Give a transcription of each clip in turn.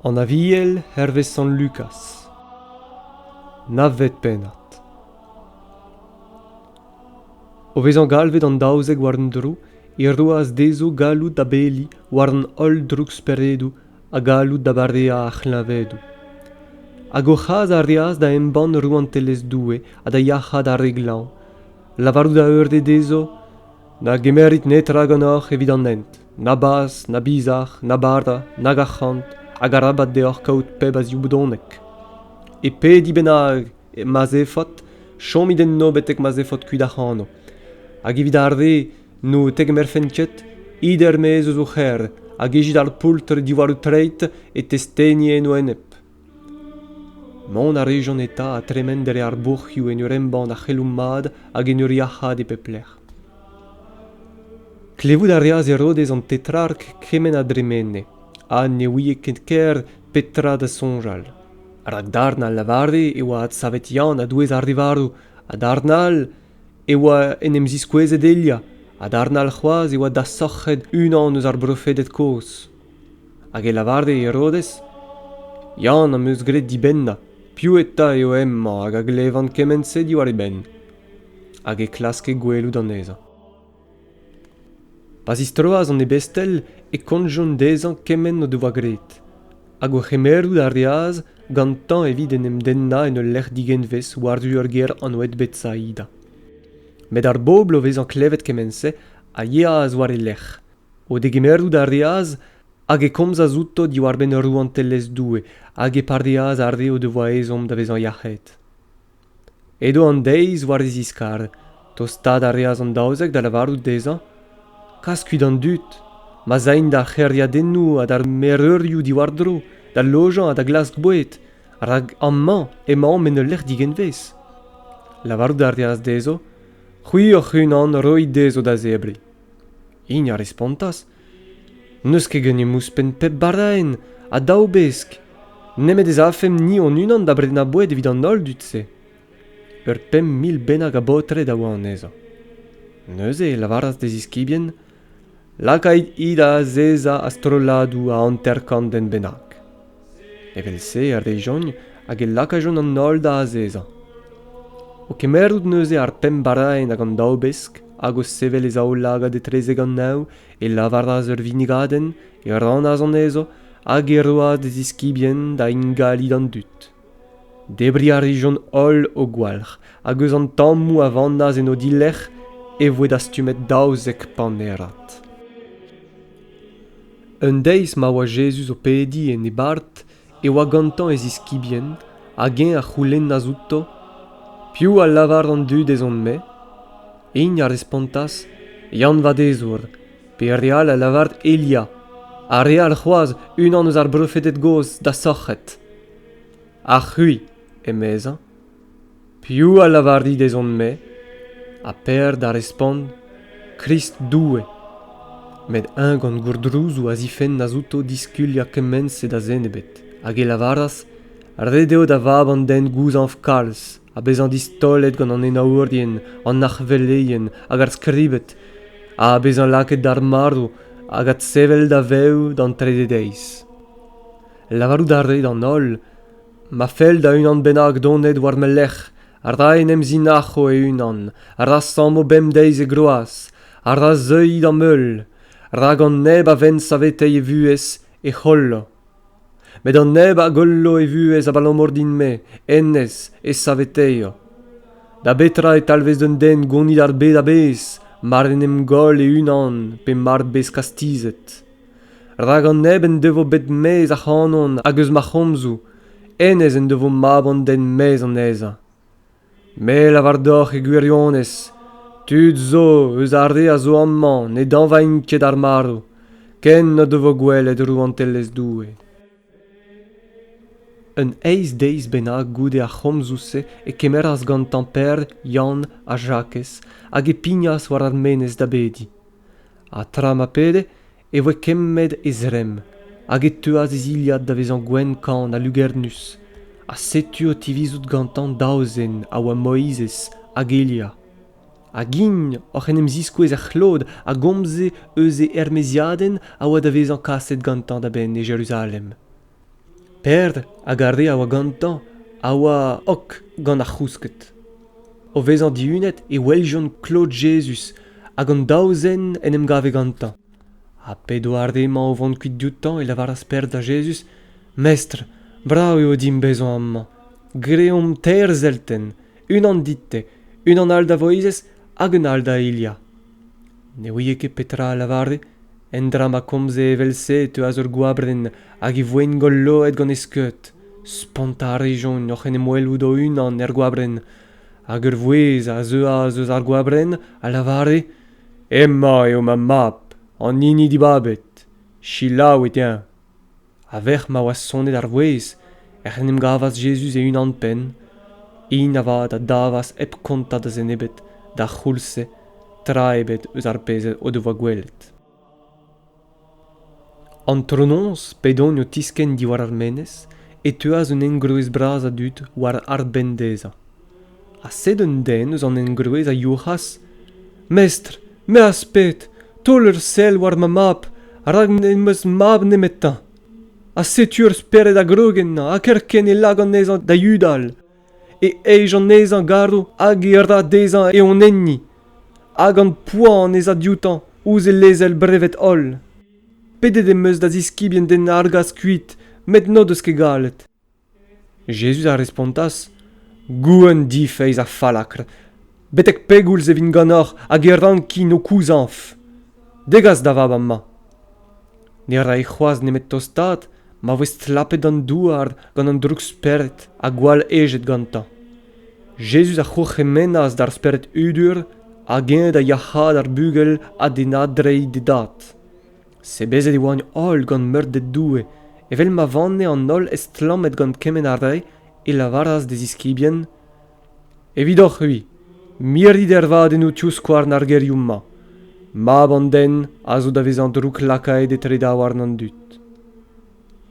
An Aviel hervez Sant Lukaz. Navet pennad. O vezañ galvet an daouzek war un dro e roas dezho galloud da bediñ war an holl drouksperedoù ha galloud da bareañ ar c'hleñvedoù. Hag o c'has a reas da embann rouantelezh Doue ha da yac'haat ar re glañv, lavarout a eure dezho Na gemerit netra ganeoc'h evit an hent, na bazh, na bizar, na bara, nag arc'hant, hag arabat deoc'h kaout pep a zioubodonek. E pe di bennak ma'z efot, chomit enno betek ma'z efot kuit ac'hano. Hag evit ar re n'o tegemerfent ket, it er-maez eus o c'her, hag ejit ar poultr diwall ho treid e testeni eno enep. Mont a rejont eta ha tremen dre ar bourc'hioù en ur embann ar c'heloù mat hag en ur yac'haat e pep lec'h. Klevout a reas Herodez an Tetrark kement a dremene, ha ne ouie ket ker petra da soñjal. Rak darn a lavare e oa adsavet Yann a-douez ar rivaroù, ha darn all e oa en em ziskouezet Elia, ha darn all c'hoazh e oa dasoc'het unan eus ar brofeded kozh. Hag e lavare Herodez, Yann am eus graet dibennañ, piv eta eo hemañ hag a glevan kement-se diwar e benn? Hag e klaske gwelout anezhañ. Pa zistroas an ebestel e kontjont dezhañ kement o devoa graet, hag o c'hemerout a reas gantañ evit en em dennañ en ul lec'h digenvez war-du ur gêr anvet Betsaida. Met ar bobl o vezañ klevet kement-se a yeas war e lerc'h, O degemeret a reas hag e komzas outo diwar-benn rouantelezh Doue hag e pareas ar re o devoa ezhomm da vezañ yac'hed. Edo an deiz war e ziskar. Tostaat a reas an daouzek da lavarout dezhañ kas kuit an dud, ma'z aint d'ar c'hêriadennoù ha d'ar mereurioù diwar-dro, da lojañ ha da glask boued, rak amañ emaomp en ul lec'h digenvez. Lavarout a reas dezho c'hwi hoc'h-unan roit dezho da zebriñ. Int a respontas, N'eus ket ganeomp ouzhpenn pep bardaenn ha daou besk, nemet ez afemp ni hon-unan da brenañ boued evit an holl dud-se. Ur pemp mil bennak a baotred a oa anezhañ. Neuze e lavaras d'e ziskibien, Lakait-hi da azezañ a-strolladoù a hanter-kant den bennak. Evel-se a rejont hag e lakajont an holl da azezañ. O kemmerout neuze ar pemp baraenn hag an daou besk, hag o sevel e zaoulagad etrezek an neñv, e lavaras ur vinigadenn, e rannas anezho, hag e roas d'e ziskibien da ingali d'an dud. Debriñ a rijont holl o gwalc'h hag eus an tammoù a vannas en o dilerc'h e voe dastumet daouzek panerad. Un deiz ma oa Jezuz o pediñ en e bart e oa gantañ e ziskibien hag eñ a c'houlennas outo piv a lavar an dud ez on-me. Int a respontas Yann-Vadezour, pe re all a lavar Elia, ha re all c'hoazh unan eus ar brofeded gozh da sorc'hed. Ha c'hwi, emezañ, piv a lavar dit ez on-me ha per da respont Krist Doue met eñ gant gourdrouzoù a zifennas outo diskuliañ kement-se da zen ebet hag e lavaras ret eo da vab an den gouzañv kalz ha bezañ distaolet gant an henaourien an arc'hveleien hag ar skribed ha bezañ lakaet d'ar marv hag adsevel daveoù d'an trede deiz. Lavarout a rae d'an holl ma fell da unan bennak donet war ma lerc'h a ra en em zinac'ho e-unan, a ra sammo bemdeiz e groaz, a ra zeuiñ d'am heul, rak an neb a venn saveteiñ e vuhez e c'hollo. Met an neb a gollo e vuhez abalamour din-me, hennezh e saveteio. Da betra e talvez d'un den gonit ar bed a-bezh mar en em goll e-unan pe mar bez kastizet? Rak an neb en devo bet maez ac'hanon hag eus ma c'homzoù, hennezh en devo mab an den maez anezhañ. Me lavar deoc'h e gwirionez, tud zo eus ar re a zo amañ ne dañvaint ket ar marv, ken n'o devo gwelet rouantelezh Doue. Un eizh deiz bennak goude ar c'homzoù-se e kemeras gantañ Pêr, Yann ha Jakez hag e pignas war ar menez da bediñ. Ha tra ma pede e voe kemmet e zremm hag e teuas e zilhad da vezañ gwenn kan ha lugernus. Ha setu o tivizout gantañ daou zen a oa Moizez hag Elia. hag int oc'h en em ziskouez er c'hlod a gomze eus e ermaeziadenn a oa da vezañ kaset gantañ da benn e Jeruzalem. Peder hag ar re a oa gantañ a oa ok gant ar c'housked. O vezañ dihunet e weljont klod Jezuz hag an daou zen en em gave gantañ. Ha p'edo ar re-mañ o vont kuit dioutañ e lavaras Peder da Jezuz, Mestr, brav eo dimp bezañ amañ. Greomp teir zeltenn. unan dit-te unan all da voizez hag un all da hilha ne ouie ket petra a lavare endra ma komze evel-se e teuas ur goabrenn hag e voengol loet gant e skeud spontañ a rejont oc'h en em welout o-unan er goabrenn hag ur vouezh a zeuas eus ar goabrenn a lavare emañ eo ma mab an hini dibabet selaouit-eñ A-vec'h ma oa sonet ar vouezh ec'h en em gavas Jezuz e-unan-penn. Hin avat a davas hep kontañ da zen ebet d'ar c'houlz-se tra ebet eus ar pezh o devoa gwelet. Antronoz, p'edont o tiskenn diwar ar menez, e teuas un engroez bras a dud war arbenn dezhañ. ha sed un den eus an engroez a youc'has mestr me az ped taol ur sell war ma mab rak n'em eus mab nemetañ ha setu ur spered a grog ennañ ha kerkent e lak anezhañ da yudal e ej anezhañ garv hag e ra dezhañ e onenni hag an poan ez a dioutañ ouzh e lezel brevet holl. Pedet em eus da ziskibien den argas kuit met n'o deus ket gallet. Jezuz a respontas, Gouenn difeiz ha fallakr, betek pegoulz e vin ganeoc'h hag e rankin ho kouzañv? Degas da vab amañ. Ne rae c'hoazh nemet tostaat ma voe stlapet an douar gant an droug-spered ha gwall hejet gantañ. Jezuz a c'hourc'hemennas d'ar spered hudur hag eñ da yac'haat ar bugel ha d'e nadreiñ d'e dad. sebezet e oagn holl gant meurded Doue evel ma vanne an holl estlammet gant kement a rae e lavaras d'e ziskibien Evidoc'h-c'hwi, mirdit ervadennoù tivskouarn ar gerioù-mañ. Mab an den a zo da vezañ drouklakaet etre daouarn an dud.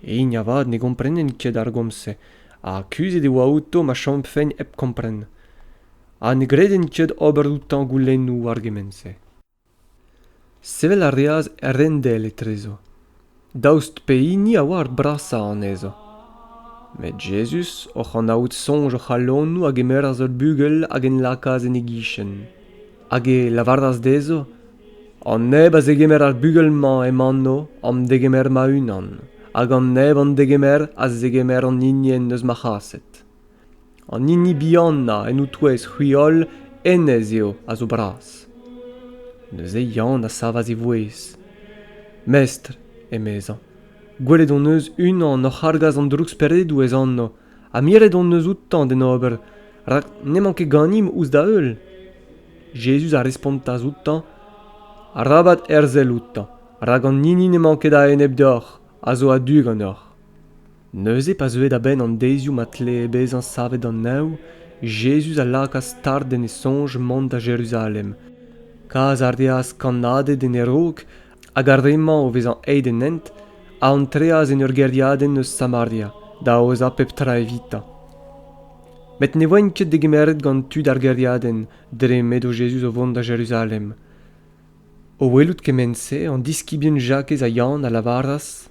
Hini avat ne gomprenen ket ar gomz-se ha kuzhet e oa outo ma chomfent hep kompren. Ha ne greden ket ober outañ goulennoù war gement-se. Sevel a reas Rendell etrezo, daoust pehini a oa ar brasañ anezho. Met Jezuz, oc'h anaout soñj o c'halonoù, a gemeras ur bugel hag en lakaas en e gichen. Hag e lavaras dezho, An neb a zegemer ar bugel-mañ em anv am degemer ma-unan, hag an neb an degemer a zegemer an hini en deus ma c'haset. an hini bihanañ en o-touez c'hwi holl hennezh eo a zo bras neuze Yann a savas e vouezh mestr emezañ gwelet hon eus unan oc'h argas an drouksperedoù ez anv ha miret hon eus outañ d'en ober rak n'emañ ket ganimp ouzh da heul Jezuz a respontas outañ arabat herzel outañ rak an hini n'emañ ket a-enep deoc'h a zo a-du ganeoc'h Neuze, pa zeue da benn an deizioù ma tlee bezañ savet an Neñv, Jezuz a lakaas start en e soñj mont da Jeruzalem. Kas a reas kannaded en e raok hag ar re-mañ o vezañ aet en hent a antreas en ur gêriadenn eus Samaria da aozañ pep tra evitañ. Met ne voent ket degemeret gant tud ar gêriadenn dre m'edo Jezuz o vont da Jeruzalem. O welout kement-se, an diskibien Jakez ha Yann a lavaras,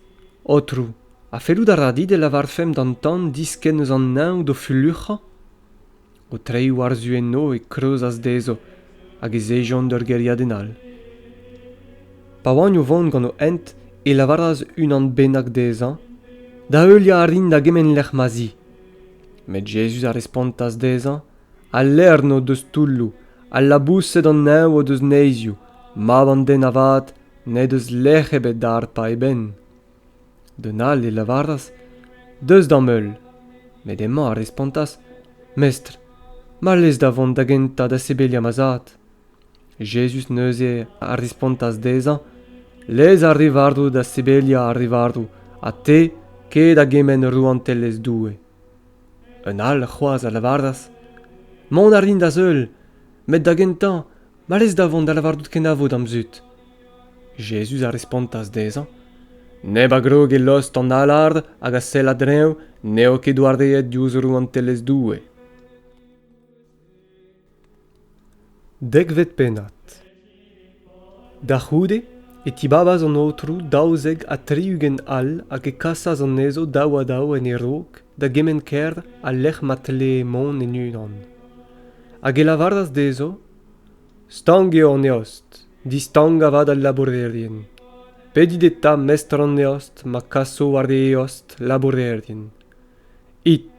Aotrou, Ha fellout a ra dit e lavarfemp d'an tan diskenn eus an neñv d'o fulluc'hañ? O treiñ war-zu enno e kreuzas dezho hag ez ejont d'ur gêriadenn all. Pa oant o vont gant o hent e lavaras unan bennak dezhañ da heuliañ a rin da gement lec'h ma 'z i. Met Jezuz a respontas dezhañ al lern o deus toulloù, al laboused an neñv o deus neizioù, mab an den avat n'he deus lec'h ebet da harpañ e benn. D'un all e lavaras Deus d'am heul. Met hemañ a respontas Mestr, ma lez da vont da gentañ da sebeliañ ma zad. Jezuz neuze a respontas dezhañ Lez ar re varv da sebeliañ ar re varv, ha te ket a gement rouantelezh Doue. Un all c'hoazh a lavaras Mont a rin da seul, met da gentañ Ma lez da vont da lavarout kenavo d'am zud. Jezuz a respontas dezhañ, Neb a grog e lost an alar hag a sell a-dreñv n'eo ket doareet diouzh Rouantelezh Doue. Dekvet pennad Da c'houde e tibabas an aotrou daouzek ha tri-ugent all hag e kasas anezho daou ha daou en e raok da gement kêr al lec'h ma tlee mont en unan. hag e lavaras dezho stank eo an eost distank avat al labourerien pedit eta mestr an eost ma kaso war e eost labourerien it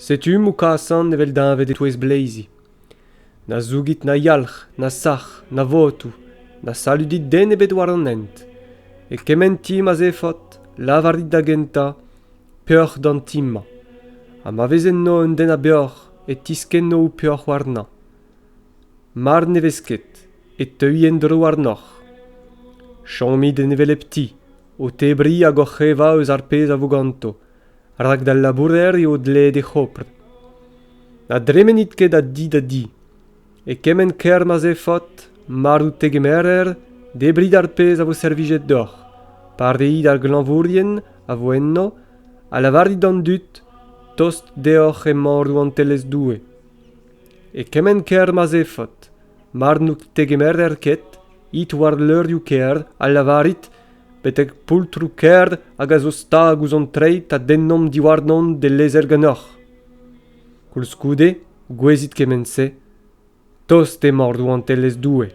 setu m'ho kasan evel deñved e-touez bleizi na zougit na yalc'h na sac'h na votoù na saludit den ebet war an hent e kement ti ma 'z efot lavarit da gentañ peoc'h d'an ti-mañ ha ma vez enno un den a beoc'h e tiskenno ho peoc'h warnañ. Mar ne vez ket, e teuy en-dro warnoc'h. Chomit en hevelep ti, o tebriñ hag oc'h evañ eus ar pezh a vo ganto, rak d'al labourer eo dleet he c'hopr. Na dremenit ket a di da di. E kement kêr ma'z eo faot, marv tegemerer, debriñ d'ar pezh a vo servijet deoc'h. Pareet ar glañvourien a vo enno ha lavarit d'an dud tost deoc'h emañ Rouantelezh Doue. E kement kêr ma'z eo faot, mar n'out tegemerer ket, it war levrioù kêr ha lavarit betek poultroù kêr hag a zo stag ouzh an treid a dennomp diwarnon d'e lezer ganeoc'h. Koulskoude, gouezit kement-se, tost emañ Rouantelezh Doue.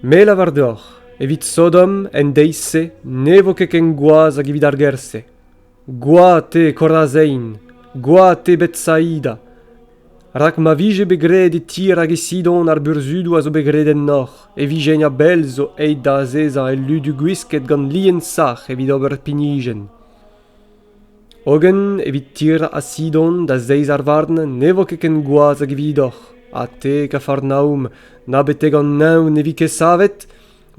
Me lavar deoc'h, evit Sodom en deiz-se ne vo ket ken gwaz hag evit ar gêr-se. Gwad eo Korazein, gwad eo Betsaida, rak ma vije bet graet e Tir hag e Sidon ar burzhudoù a zo bet graet ennoc'h, e vijent a-bell zo aet da azezañ el ludu gwisket gant lien sac'h evit ober pinijenn. Hogen evit Tir ha Sidon da zeiz ar varn ne vo ket ken gwaz hag evidoc'h, ha te, Kafarnaoum, na betek an neñv ne vi ket savet,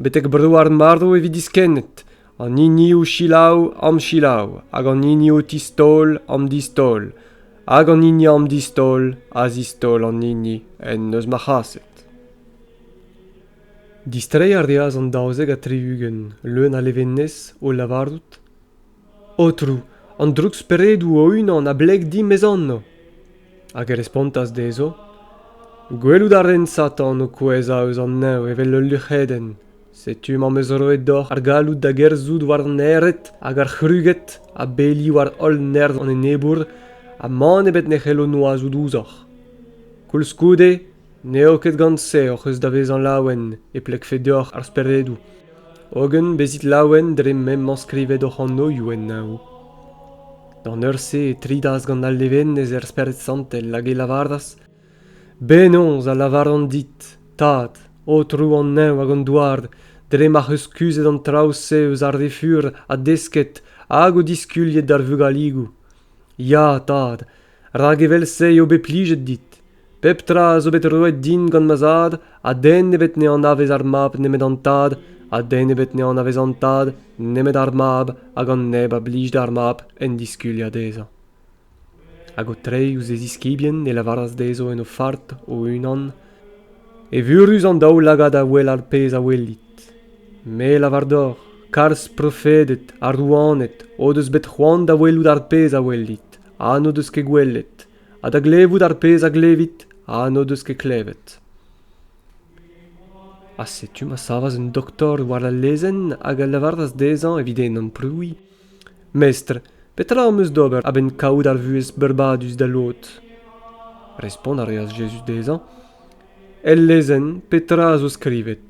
betek bro ar marv e vi diskennet, an hiniv selaou am selaou, hag an hiniv tistaol am distaol, hag an hini am distaol a zistaol an hini en deus ma c'haset. Distreiñ a reas an daouzek ha tri-ugent leun a levenez o lavarout Aotrou, an droug-speredoù o-unan a bleg dimp ez anv. Hag e respontas dezho, Gwelout a ren Satan o kouezhañ eus an neñv evel ul luc'hedenn. Setu m'am eus roet deoc'h ar galloud da gerzhout war an ered hag ar c'hruged ha beli war holl nerzh an enebour ha mann ebet ne c'hello noazout ouzhoc'h. Koulskoude, N'eo ket gant-se hoc'h eus da vezañ laouen e plegfe deoc'h ar speredoù, hogen bezit laouen dre m'emañ skrivet hoc'h anoioù en neñv. D'an eur-se e tridas gant al levenez er Spered Santel hag e lavaras, Benaos a lavaran dit, Tad, Aotrou an Neñv hag an Douar, dre m'ac'h eus kuzhet an traoù-se eus ar re fur ha desket hag o diskuliet d'ar vugaligoù? Ya, Tad, rak evel-se eo bet plijet dit pep tra zo bet roet din gant ma zad ha den nebet ne anavez ar mab nemet an tad ha den ebet ne anavez an tad nemet ar mab hag an neb a blij d'ar mab en diskuliañ dezhañ hag o treiñ ouzh e ziskibien e lavaras dezho en o fart o-unan evurus an daoulagad a wel ar pezh a welit me lavar deoc'h kalz profeded ha rouaned o deus bet c'hoant da welout ar pezh a welit ha n'o deus ket gwelet ha da glevout ar pezh a glevit ha n'o deus ket klevet ha setu ma savas un doktor war al lezenn hag a lavaras dezhañ evit e amprouiñ mestr petra am eus d'ober a-benn kaout ar vuhez beurbadus da lod respont a reas Jezuz dezhañ el lezenn petra a zo skrivet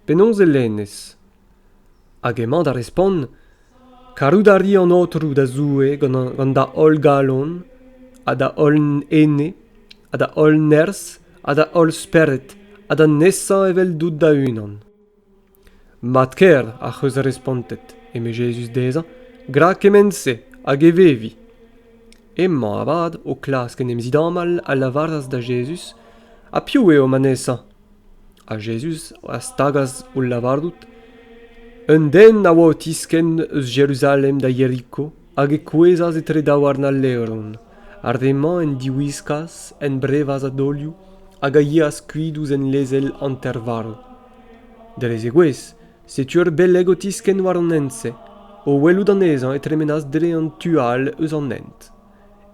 penaos e lennez Hag emañ da respont, Karout a ri an Aotrou da Zoue gant da holl galon ha da holl ene ha da holl nerzh ha da holl spered ha da nesañ eveldout da-unan. Mat kaer ac'h eus respontet, eme Jezuz dezhañ, gra kement-se hag e vevi. Emañ avat o klask en em zidamal a lavaras da Jezuz, ha piv eo ma nesañ? Ha Jezuz a stagas hol lavarout, Un den a oa o tiskenn eus Jeruzalem da Yeriko hag e kouezhas etre daouarn al levron. Ar re-mañ en diwiskas, en brevas a-daolioù hag a yeas kuit ouzh en lezel hanter-varv. Dre zegouezh, setu ur beleg o tiskenn war an hent-se, o welout anezhañ e tremenas dre an tu all eus an hent.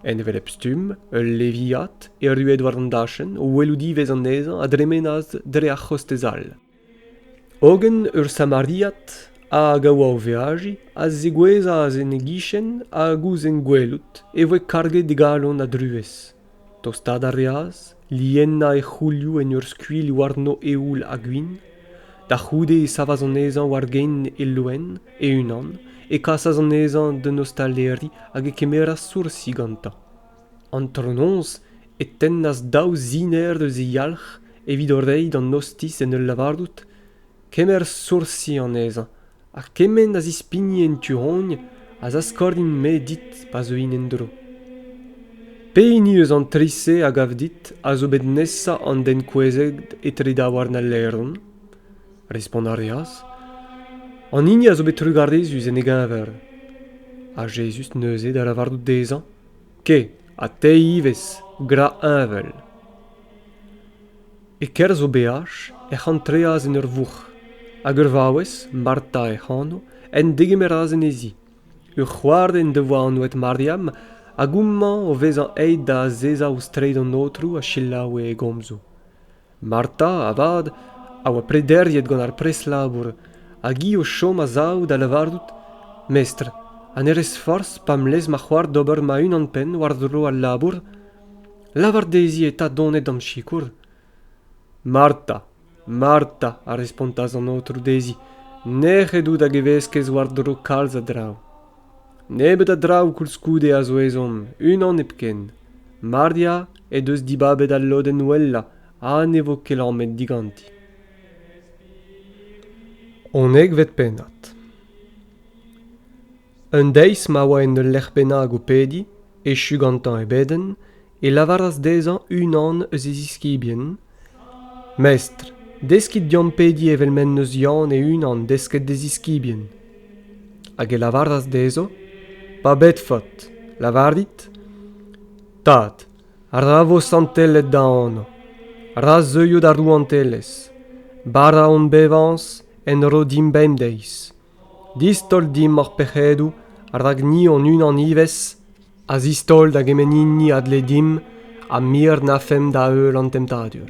en hevelep stumm ul leviad erruet war an dachenn o welout ivez anezhañ a dremenas dre ar c'hostez all hogen ur samariad hag a oa o veajiñ a zegouezhas en e gichen hag ouzh en gwelout e voe karget e galon a druez tostaat a reas liennañ e c'houlioù en ur skuilh warno eoul ha gwin da c'houde e savas anezhañ war gein e loen e-unan e kasas anezhañ d'un ostaleri hag e kemeras soursi gantañ antronoz e tennas daou ziner eus e yalc'h evit o reiñ d'an ostiz en ul lavarout kemer soursi anezhañ Ha kement a zispigni en tu-hont a zaskorint-me dit pa zeuin en-dro. Pehini eus an tri-se a gav dit a zo bet nesañ an den kouezhet etre daouarn al laeron? Respont a reas, An hini a zo bet trugarezus en e geñver. Ha Jezuz neuze da lavarout dezhañ, Ke, ha te ivez, gra heñvel. E-kerzh o beaj ec'h antreas en ur vourc'h, hag ur vaouez, Marta hec'h anv, en degemeras en he zi. Ur c'hoar en devoa anvet Mariam, hag houmañ o vezañ aet da azezañ ouzh treid an Aotrou a selaoue e gomzoù. Marta, avat, a oa prederiet gant ar pres-labour, hag hi o chom a-sav da lavarout, Mestr, ha ne rez forzh pa'm lez ma c'hoar d'ober ma-unan-penn war-dro al labour? Lavar dezhi eta dont d'am sikour. Marta, Marta, a respontas an aotrou dezhi, nec'het out hag e veskez war-dro kalz a draoù. Nebeut a draoù koulskoude a zo ezhomm, unan hepken. Maria he deus dibabet al lodenn wellañ ha ne vo ket lamet diganti. Honnezh 'vet pennad. Un deiz ma oa en ul lec'h bennak o pediñ, echu gantañ e bedenn, e lavaras dezhañ unan eus e ziskibien Mestr, deskit deomp pediñ evel m'en deus Yann e-unan desket d'e ziskibien. Hag e lavaras dezho Pa bedfot, lavarit Tad, ra vo santellet da anv, ra zeuio da rouantelezh, bara hon bevañs en ro dimp bemdeiz, Distaol dimp hor pec'hedoù rak ni hon-unan ivez a zistaol da gement hini a dle dimp ha mir n'afemp da-heul an temptadur.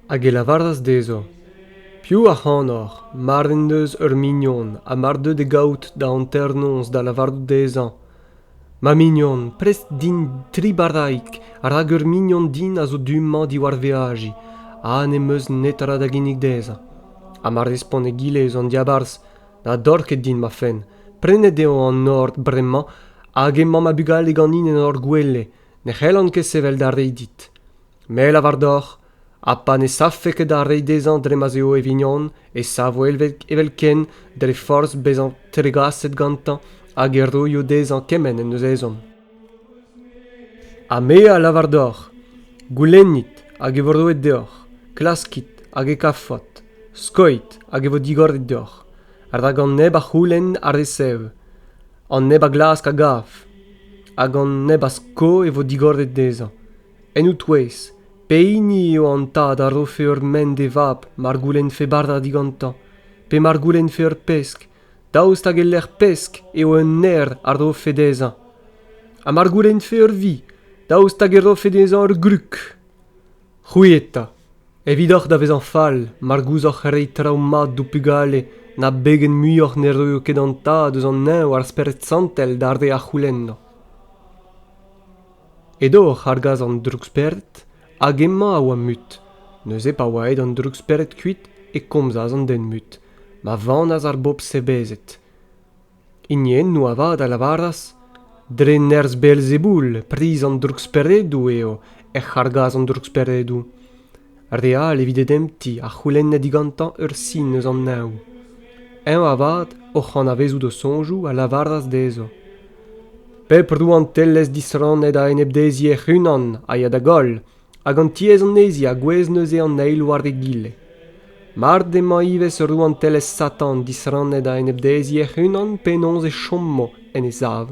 Hag e lavaras dezho, Piv ac'hanoc'h, mar en deus ur mignon ha mar deu da gaout da hanternoz da lavarout dezhañ Ma mignon, prest din tri barraig, rak ur mignon din a zo du-mañ diwar veajiñ ha n'em eus netra da ginnig dezhañ. Ha ma respont egile eus an diabarzh, na dor ket din ma fenn, prenet eo an nor bremañ hag emañ ma bugale ganin en hor gwele, ne c'hellan ket sevel da reiñ dit. Me 'lavar deoc'h, ha pa ne savfe ket ar re dezhañ dre ma'z eo e vignon e savo evelkent dre forzh bezañ tregaset gantañ hag e roio dezhañ kement en deus ezhomm. Ha me a lavar deoc'h, goulennit hag e vo roet deoc'h, klaskit hag e kavfot, skoit hag e vo digoret deoc'h, rak an neb a c'houlenn a resev, an neb a glask a gav, hag an neb a sko e vo digoret dezhañ, en ho touez, pehini eo an tad a rofe ur mend d'e vab mar goulennfe bardañ digantañ pe mar goulennfe ur pesk daoust hag e-lec'h pesk eo un naer a rofe dezhañ ha mar goulennfe ur vi daoust hag e rofe dezhañ ur grug c'hwi eta evidoc'h da vezañ fall mar gouzoc'h reiñ traoù mat d'ho pugale na begen muioc'h ne roio ket an tad eus an neñv ar spered santel d'ar re a c'houlenno Edo oc'h argas an droukspered hag emañ a oa mut. Neuze pa oa aet an droukspered kuit e komzas an den mut, ma vanas ar bobl sebezet. Hiniennoù avat a lavaras, Dre nerzh Belzeboul, priz an drouksperedoù eo ec'h argas an drouksperedoù. Re all evit e dempti a c'houlenne digantañ ur sin eus an neñv. Eñ avat, oc'h anavezout o soñjoù, a lavaras dezho Pep rouantelezh disrannet a-enep dezhi hec'h-unan a ya da goll, hag an tiez anezhi a gouezh neuze an eil war egile. Mard emañ ivez ur rouantelezh Satan disrannet a-enep dezhi hec'h-unan, penaos e chomo en e sav?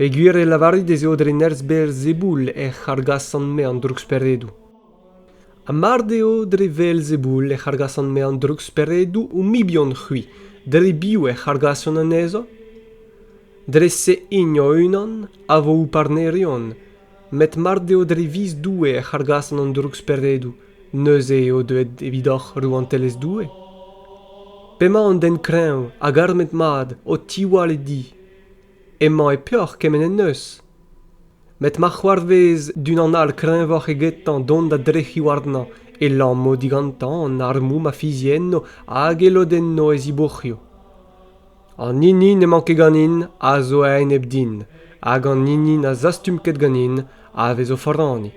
Peogwir e lavarit ez eo dre nerzh-berr Zeboul ec'h argasan-me an drouksperedoù. Ha mard eo dre wel Zeboul ec'h argasan-me an drouksperedoù ho mibien-c'hwi, dre biv ec'h argasan anezho? Dre-se int o-unan a vo ho parnerion, met mard eo dre viz Doue ec'h argasan an drouksperedoù, neuze eo deuet evidoc'h Rouantelezh Doue? P'emañ an den kreñv hag armet-mat o tiwall e di, Emañ e peoc'h kement en deus. Met ma c'hoarvez d'unan all kreñvoc'h egetañ dont da drec'hiñ warnañ e lammo digantañ an armoù ma fizienno hag e lodenno e zibourc'hioù. An hini n'emañ ket ganin a zo a-enep din, hag an hini na zastum ket ganin a vez o foraniñ.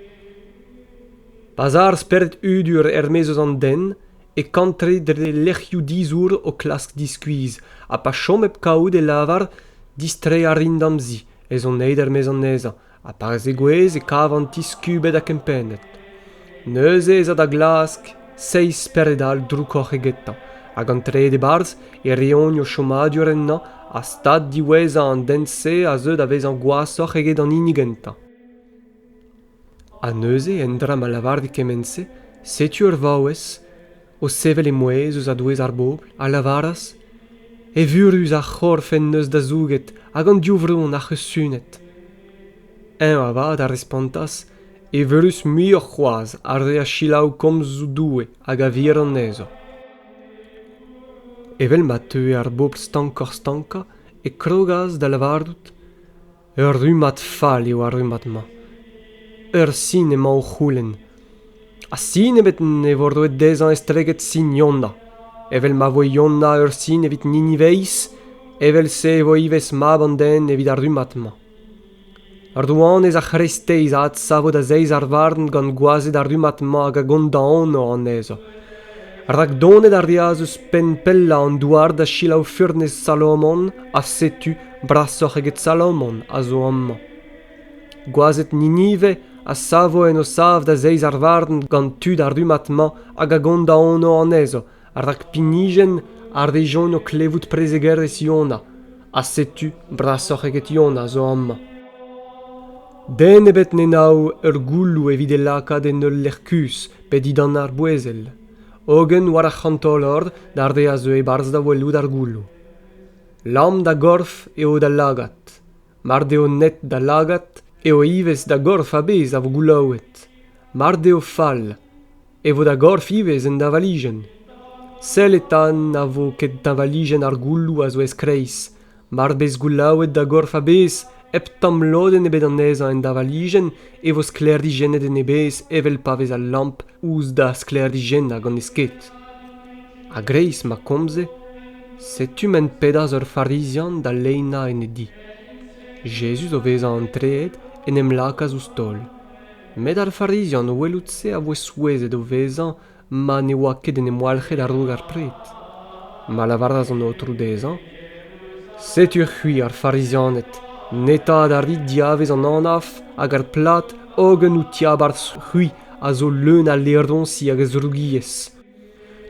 Pa 'z a ar spered hudur er-maez eus an den e kantre dre lec'hioù dizour o klask diskuizh ha pa chom hep kavout e lavar distreiñ a rin d'am zi ez on aet er-maez anezhañ ha pa zegouezh e kavan ti skubet ha kempennet neuze ez a da glask seizh spered-all droukoc'h egetañ hag an trede e-barzh e reont o chomadur ennañ ha stad diwezhañ an den-se a zeu da vezañ gwashoc'h eget an hini gentañ Ha neuze, en dra ma lavarit kement-se, setu ur vaouez, o sevel he mouezh ouzh a-douez ar bobl, a lavaras: Evurus ar c'horf en deus da zouget hag an div vron ac'h eus sunet. Eñ avat a respontas: Evurus muioc'h c'hoazh ar re a selaou komzoù Doue hag a vir anezho. Evel ma teue ar bobl stankoc'h-stankañ, e krogas da lavarout: Ur rummad fall eo ar rummad-mañ. Ur sin emañ o c'houlenn. Ha sin ebet ne vo roet dezhañ estreget sin Yona. Evel ma voe Yona ur sin evit Niniveiz, evel-se e vo ivez mab an den evit ar rummad-mañ. Rouanez ar c'hreisteiz a adsavo da zeiz ar varn gant gwazed ar rummad-mañ hag a gondaono anezho. Rak donet a reas eus penn pellañ an douar da selaou furnez Salomon, ha setu Brasoc'h eget Salomon a zo amañ. Gwazed Ninive a savo en o sav da zeiz ar varn gant tud ar rummad-mañ hag a gont da anv anezho, rak pinijenn a rejont o klevout prezegerezh Yona, ha setu brasoc'h eget Yona zo amañ. Den ebet ne nav ur gouloù evit e lakaat en ul lec'h kuzh pe dindan ar bouezel, hogen war ar c'hantolor d'ar re a zeu e-barzh da welout ar gouloù. Lamm da gorf eo da lagad. Mard eo net da lagad eo ivez da gorf a-bezh a vo goulaouet. Mard eo fall e vo da gorf ivez un dañvalijenn. Sell eta na vo ket dañvalijenn ar gouloù a zo ez-kreiz. Mar bez goulaouet da gorf a-bezh Hep tamm lodenn ebet anezhañ en davalijenn e vo sklêrijennet en e bezh evel pa vez al lamp ouzh da sklêrijennañ gant e sked. A-greiz ma komze, setu ma pedas ur Farizian da leinañ en e di. Jezuz o vezañ antreet en em lakaas ouzh taol. Met ar Farizian o welout se a voe souezhet o vezañ ma ne oa ket en em walc'het a-raok ar pred, ma lavaras an Aotrou dezhañ, Setu c'hwi ar Farizianed, neta da rit diavez an anaf hag ar plad hogen out tiabarzh c'hwi a zo leun a laeroñsi hag a zrougiezh.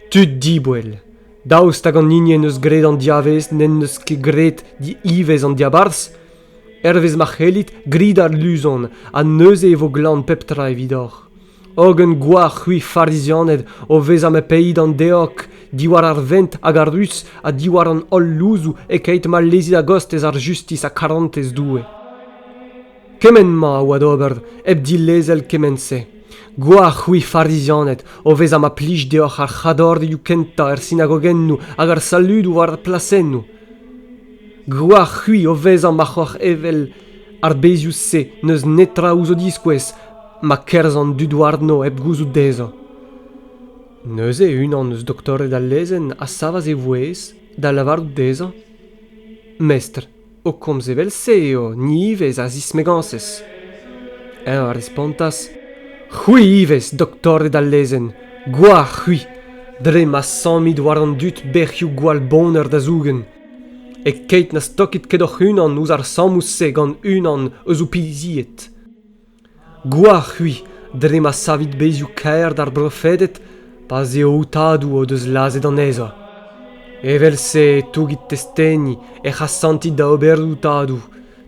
Tud diboell, daoust hag an hini en deus graet an diavez n'en deus ket graet diivez an diabarzh? Hervez ma c'hellit, grit ar luzon, ha neuze e vo glan pep tra evidoc'h. hogen gwalc'h c'hwi farizianed o vezañ ma peit an deog diwar ar vent hag ar ruz ha diwar an holl louzoù e-keit ma lezit a-gostez ar justis ha karantez Doue. Kement-ma a oa d'ober hep dilezel kement-se. Gwalc'h c'hwi farizianed o vezañ ma plij deoc'h ar c'hadorioù kentañ er sinagogennoù hag ar saludoù war ar plasennoù. Gwalc'h c'hwi o vezañ ma c'hoc'h evel ar bezioù-se n'eus netra ouzh o diskouez ma kerzh an dud warno hep gouzout dezhañ. Neuze unan eus doktored al lezenn a savas e vouezh da lavarout dezhañ Mestr, o komz evel-se eo ni ivez a zismegañsez. Eñ a respontas C'hwi ivez, doktored al lezenn, gwalc'h c'hwi, dre ma sammit war an dud bec'hioù gwall boner da zougen. E-keit na stokit ket hoc'h-unan ouzh ar sammoù-se gant unan eus ho pizied. Gwalc'h-c'hwi dre ma savit bezioù kaer d'ar brofeded pa 'z eo aotadoù o deus lazhet anezhañ. Evel-se e tougit testeni ec'h asantit da oberoù tadoù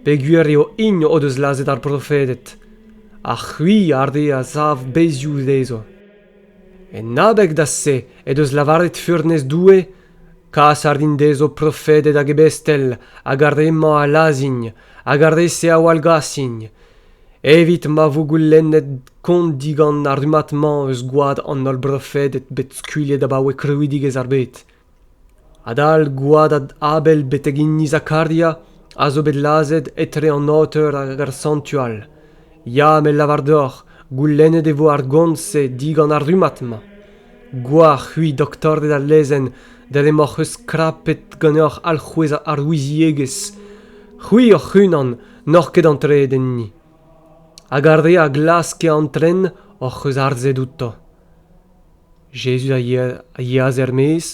peogwir eo int o deus lazhet ar brofeded, ha c'hwi ar re a sav bezioù dezhañ. En abeg da se he deus lavaret furnez Doue kas a rin dezho profeded hag ebestel hag ar re-mañ a lazhin hag ar re-se a wallgasin, evit ma vo goulennet kont digant ar rummad-mañ eus gwad an holl brofeded bet skuilhet abaoe krouidigezh ar bed adal gwadad abel betek hini zakaria a zo bet lazhet etre an aoter hag ar santual ya me lavar deoc'h goulennet e vo ar gont-se digant ar rummad-mañ gwalc'h-c'hwi doktorded al lezenn dre m'hoc'h eus skrapet ganeoc'h alc'hwez ar ouiziegezh c'hwi hoc'h-unan n'oc'h ket antreet enni hag ar re a glaske antren hoc'h eus harzet outo jezuz a yeas er-maez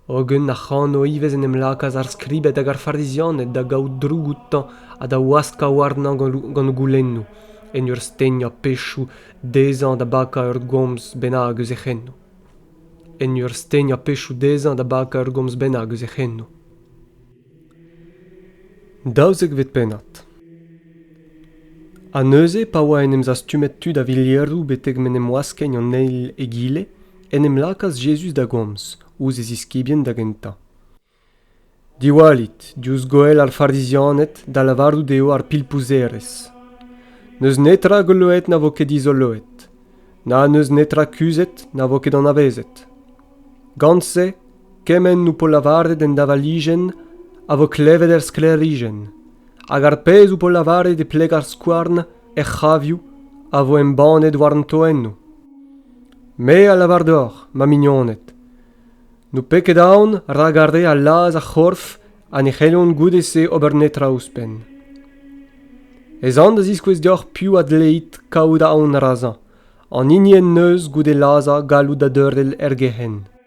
hogen ac'hano ivez en em lakaas ar skribed hag ar farizianed da gaout droug outañ ha da waskañ warnañ gant goulennoù en ur stegnañ pechoù dezhañ da bakañ ur gomz bennak eus e c'henoù en ur stegnañ pechoù dezhañ da bakañ ur gomz bennak eus e c'henoù Daouzekvet pennad. Ha neuze, pa oa en em zastumet tud a-vilieroù betek m'en em waskeñ an eil egile, en em lakaas Jezuz da gomz, ouzh e ziskibien da gentañ. Diwallit, diouzh goell ar Farizianed, da lavarout eo ar pilpouzerez. N'eus netra goloet na vo ket dizoloet, na n'eus netra kuzhet na vo ket anavezet. Gant se Kement ho po lavaret en davalijenn a vo klevet er sklêrijenn, hag ar pezh ho po lavaret e pleg ar skouarn er c'havioù a vo embannet war an toennoù. Me a lavar deoc'h, ma mignoned, n'ho pe ket aon rak ar re a laz ar c'horf ha ne c'hellont goude-se ober netra ouzhpenn. Ez an da ziskouez deoc'h piv a dleit kaout aon razañ, an hini en deus goude lazhañ galloud a deurel er gec'henn.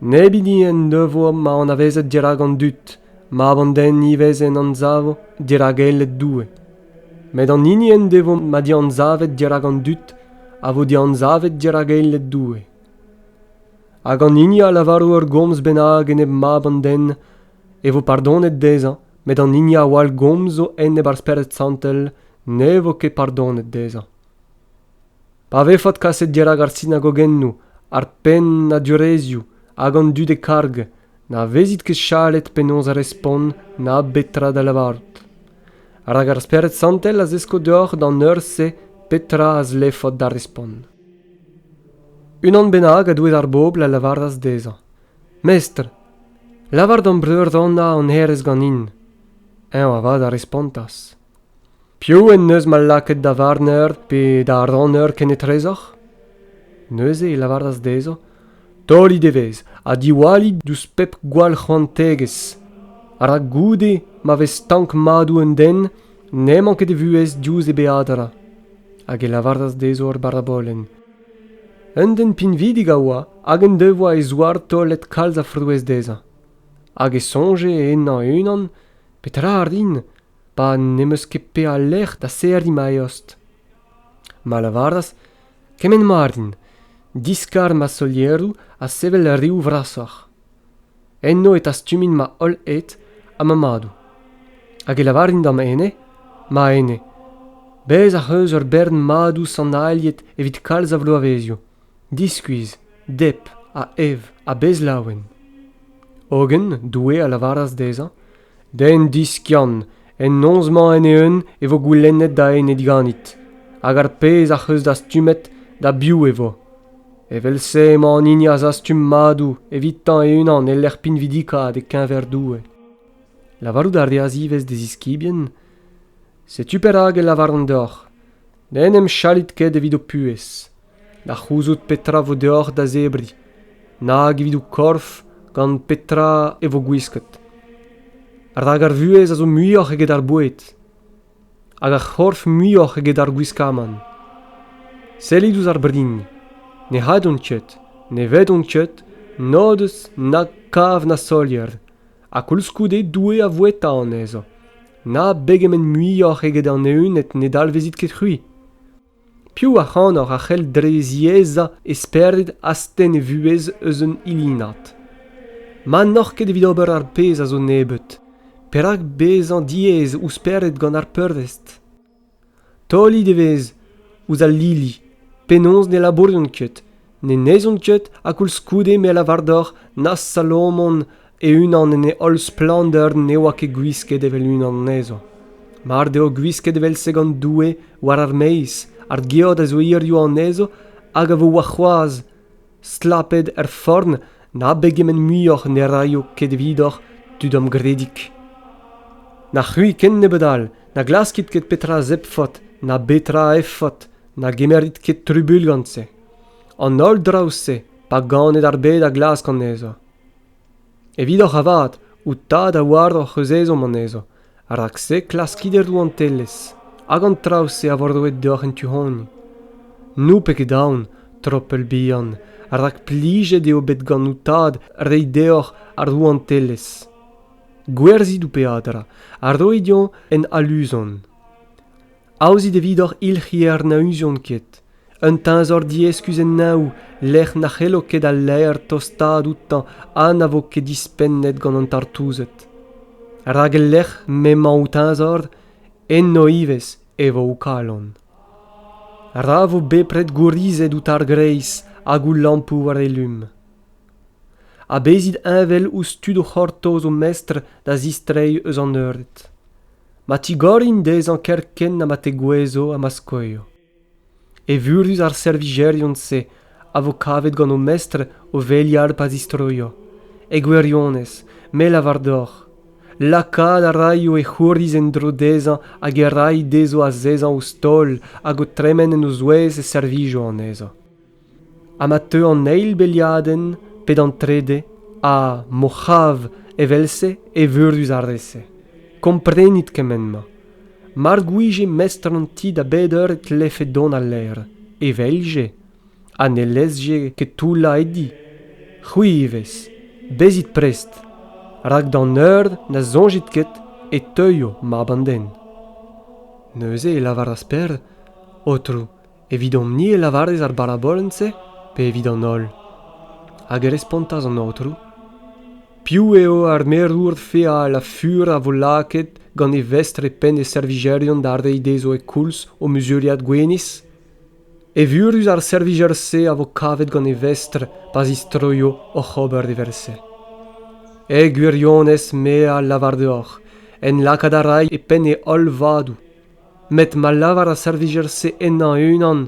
Neb hini en devoa ma anavezet dirak an dud, mab an den ivez en anzavo dirak eled Doue. Met an hini en devoa ma dianzavet dirak an dud a vo dianzavet dirak eled Doue. Hag an hini a lavaro ur gomz bennak enep mab an den, e vo pardonet dezhañ, met an hini a wall gomz zo enep ar Spered Santel ne vo ket pardonet dezhañ. Pa vefot kaset dirak ar sinagogennoù, ar pennadurezhioù hag an dud e karg, na vezit ket chalet penaos respont na betra da lavarout. Rak ar Spered Santel a zesko deoc'h d'an eur-se petra a zlefot da respont. Unan bennak a doueed ar bobl a lavaras dezhañ, Mestr, lavar d'hom breur Anna hon herez ganin. Eñ avat a respontas, Piv en deus ma lakaet da varner pe da ranner kenetrezoc'h? Neuze e lavaras dezho torrit evezh ha diwallit ouzh pep gwall c'hoantegezh, rak goude ma vez stank madoù un den n'emañ ket e vuhez diouzh e beadra. Hag e lavaras dezho ar barabolenn. Un den pinvidik a oa hag en devoa e zouar taolet kalz a frouezh dezhañ. Hag e soñje ennañ e-unan petra a rin pa n'em eus ket peadlec'h da serriñ ma eost. Ma lavaras kement mat int, diskar ma solieroù ha sevel reoù vrasoc'h. Enno e tastumin ma holl ed ha ma madoù. Hag e lavarin d'am ene, ma ene, bez ac'h eus ur bern madoù sanailhet evit kalz a vloavezioù, diskuizh, dep ha ev ha bez laouen. Hogen Doue a lavaras dezhañ Den diskiant, en noz-mañ en-eeun e vo goulennet da enep ganit, hag ar pezh ac'h eus dastumet da biv e vo. Evel-se emañ an hini a zastum madoù evitañ e-unan e-lec'h pinvidikaat e-keñver Doue. Lavarout a reas ivez d'e ziskibien, Setu perak e lavaran deoc'h, n'en em chalit ket evit ho puhez da c'houzout petra vo deoc'h da zebriñ nag evit ho korf gant petra e vo gwisket rak ar vuhez a zo muioc'h eget ar boued hag ar c'horf muioc'h eget ar gwiskamant sellit ouzh ar brin ne c'haddont ket ne vedont ket n'o deus na kav na solier ha koulskoude Doue a voueta anezhañ. Na begement muioc'h eget an evned ne dalvezit ket c'hwi. Piv ac'hanoc'h a c'hell dre ziaezañ e spered astenn e vuhez eus un ilinad? Ma n'oc'h ket evit ober ar pezh a zo nebeut, perak bezañ diaes ouzh spered gant ar peurvest? Taolit evezh ouzh al lili. Penaos ne labourjont ket, ne neizhont ket ha koulskoude me a lavar deoc'h na Salomon e-unan en e holl splander ne oa ket gwisket evel unan anezho. Mar deo gwisket evel-se gant Doue war ar maez, ar geot a zo hiziv anezho hag a vo warc'hoazh. stlapet er forn na begement muioc'h ne raio ket evidoc'h tud amgredig na c'hwi ken nebeut all na glaskit ket petra zebfot na betra efot na gemerit ket trubuilh gant-se an holl draoù-se pa ganed ar bed a glask anezho evidoc'h avat out tad a oaroc'h eus ezhomm anezho rak-se klaskit er rouantelezh hag an traoù-se a vo roet deoc'h en tu-hont n'ho pet ket aon tropell bihan rak plijet eo bet gant ho tad reiñ deoc'h ar rouantelezh gwerzhit ho peadra ha roit dezhañ un aluzon Aozit evidoc'h ilc'hier na uzont ket, un teñzor dieskuz en neñv lec'h na c'hello ket al laer tostaat outañ ha na vo ket dispennet gant an tartouzed. Rak e-lec'h m'emañ ho teñzor, eno ivez e vo ho kalon. Ra vo bepred gourizet out ar greiz hag ho lampoù war e lum. Ha bezit heñvel ouzh tud o c'hortoz o mestr da zistreiñ eus an eured. ma tigorin dezhañ kerkent ha ma tegouezho ha ma skoio. Evurus ar servijerion-se a vo kavet gant o mestr o velial pa zistroio, e gwirionez, me lavar deoc'h, lakaat a raio e c'houriz en-dro dezhañ hag e ray dezho azezañ ouzh taol hag o tremen en o zouez e servijo anezhañ. ha ma teu an eil beliadenn pe d'an trede ha m'o c'hav evel-se evurus ar re-se komprenit kement-mañ mar gouije mestr an ti da bep eur e tlefe dont a-lerc'h e velje ha ne lezje ket toullañ e di c'hwi ivez bezit prest rak d'an eur na soñjit ket e teuio mab an den neuze e lavaras Per aotrou Evidomp-ni e lavarez ar barabolenn-se pe evit an holl? Hag e respontas an Aotrou, Piv eo ar merour feal ha fur a vo lakaet gant e vestr e penn e servijerion da reiñ dezho e koulz o muzuriad gwinizh? Evurus ar servijer-se a vo kavet gant e vestr pa zistroio oc'h ober evel-se. E gwirionez me a lavar deoc'h, en lakaat a ray e penn e holl vadoù. met ma lavar ar servijer-se ennañ e-unan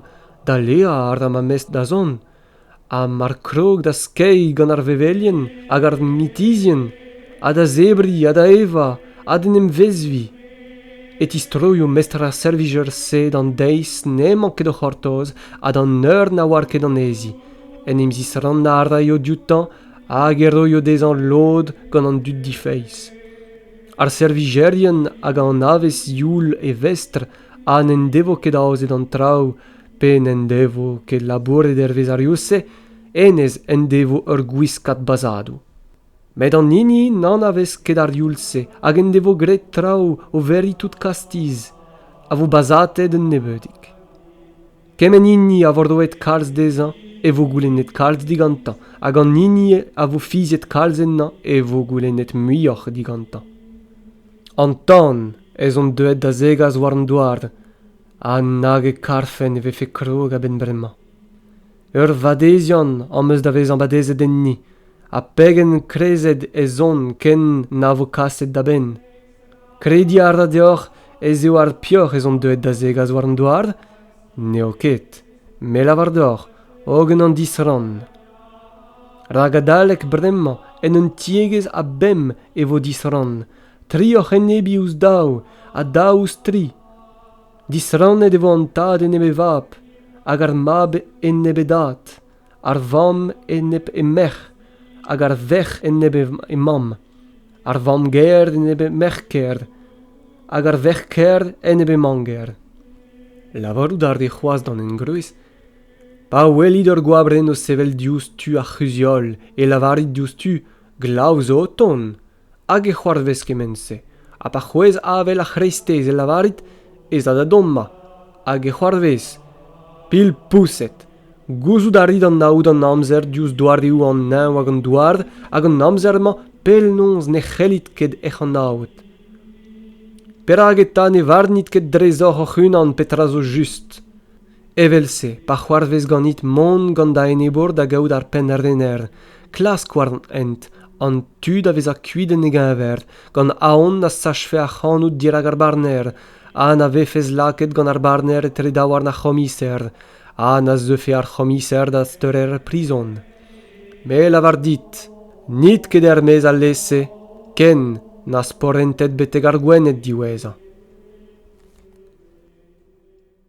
daleañ a ra ma mestr da zont ha mar krog da skeiñ gant ar vevelien hag ar mitizhien ha da zebriñ ha da evañ ha d'en em vezviñ e tistroio mestr ar servijer-se d'an deiz n'emañ ket o c'hortoz ha d'an eur na oar ket anezhi en em zisrannañ a raio dioutañ hag e roio dezhañ lod gant an dud difeiz ar servijerien hag an avezh youl e vestr ha n'en devo ket aozet an traoù pe n'en devo ket labouret hervez ar youl-se hennezh en devo ur gwiskad bazhadoù met an hini n'anavez ket ar youl-se hag en devo graet traoù o veriñ tout kastiz a vo bazhatet un nebeudig Kement hini a vo roet kalz dezhañ e vo goulennet kalz digantañ hag an hini a vo fiziet kalz ennañ e vo goulennet muioc'h digantañ. An tan ez on deuet da zegas war an douar ha nag e karfen e vefe krog a-benn bremañ. Ur vadeziant am eus da vezañ badezet enni ha pegen krezet ez on ken na vo kaset da benn. Krediñ a ra deoc'h ez eo ar peoc'h ez on deuet da zegas war an douar? N'eo ket. Me lavar deoc'h, hogen an disrann. Rak adalek bremañ, en un tiegezh a bemp e vo disrann, tri oc'h enebiñ ouzh daou ha daou ouzh tri. Disrannet e vo an tad enep e vab hag ar mab enep e dad. ar vamm enep he merc'h hag ar verc'h enep he mamm, ar vamm-gaer enep he merc'h-kaer hag ar verc'h-kaer enep he mamm-gaer. Lavarout a rae c'hoazh d'an engroez pa welit ur goabrenn o sevel diouzh tu ar c'huzh-heol e lavarit diouzhtu glav zo o tont. hag e c'hoarvez kement-se ha pa c'hwezh avel ar c'hreisteiz e lavarit ez a da dommañ hag e c'hoarvez pilpoused gouzout a rit anaout an amzer diouzh doareoù an neñv hag an douar hag an amzer-mañ penaos ne c'hellit ket hec'h anaout perak eta ne varnit ket drezoc'h hoc'h-unan petra zo just Evel-se, pa c'hoarvez ganit mont gant da enebour da gaout ar pennrener, klask war an hent an tu da vezañ kuit en e geñver, gant aon na sachfe ac'hanout dirak ar barner ha na vefes lakaet gant ar barner etre daouarn ar c'homiser ha na zeufe ar c'homiser da steurer prizon. Me lavar dit, n'it ket er-maez alese ken na sporentet betek ar Gwened diwezhañ.